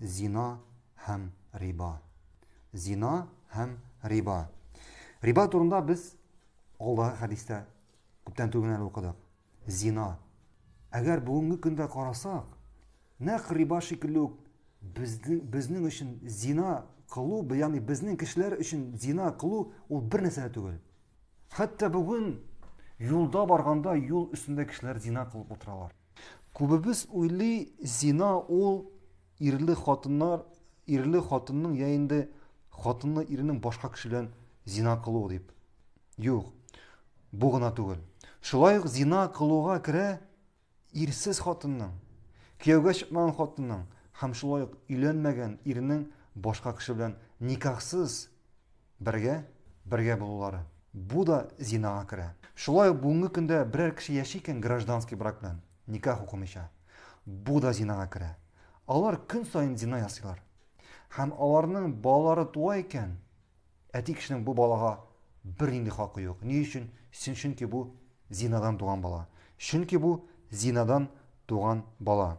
Зина һәм риба. Зина һәм риба. Риба турында без алдагы хәдистә күптән түгел әле укыдык. Зина. Әгәр бүгенге көндә карасак, нәкъ риба шикелле үк безнең безнең өчен зина кылу, ягъни безнең кешеләр өчен зина кылу ул бер нәрсә дә түгел. Хәтта бүген юлда барганда юл өстендә кешеләр зина кылып утыралар. Күбебез уйлый, зина ул ирле хатыннар, ирле хатынның я инде хатынны иренең башка кеше белән зина кылуы дип. Юк. Бу гына түгел. Шулай ук зина кылуга керә ирсез хатынның, кияүгә чыкмаган хатынның һәм шулай ук өйләнмәгән ирнең башка кеше белән никахсыз Бергә, бергә булулары. Бу да зинага керә. Шулай ук бүгенге көндә берәр кеше яши икән гражданский брак белән, никах укымыйча. Бу да зинага керә. Алар көн саен зина ясыйлар. Һәм аларның балалары туа икән, әти кешенең бу балага бернинди хакы юк. Ни өчен? Чөнки бу зинадан туган бала. Чөнки бу зинадан туган бала.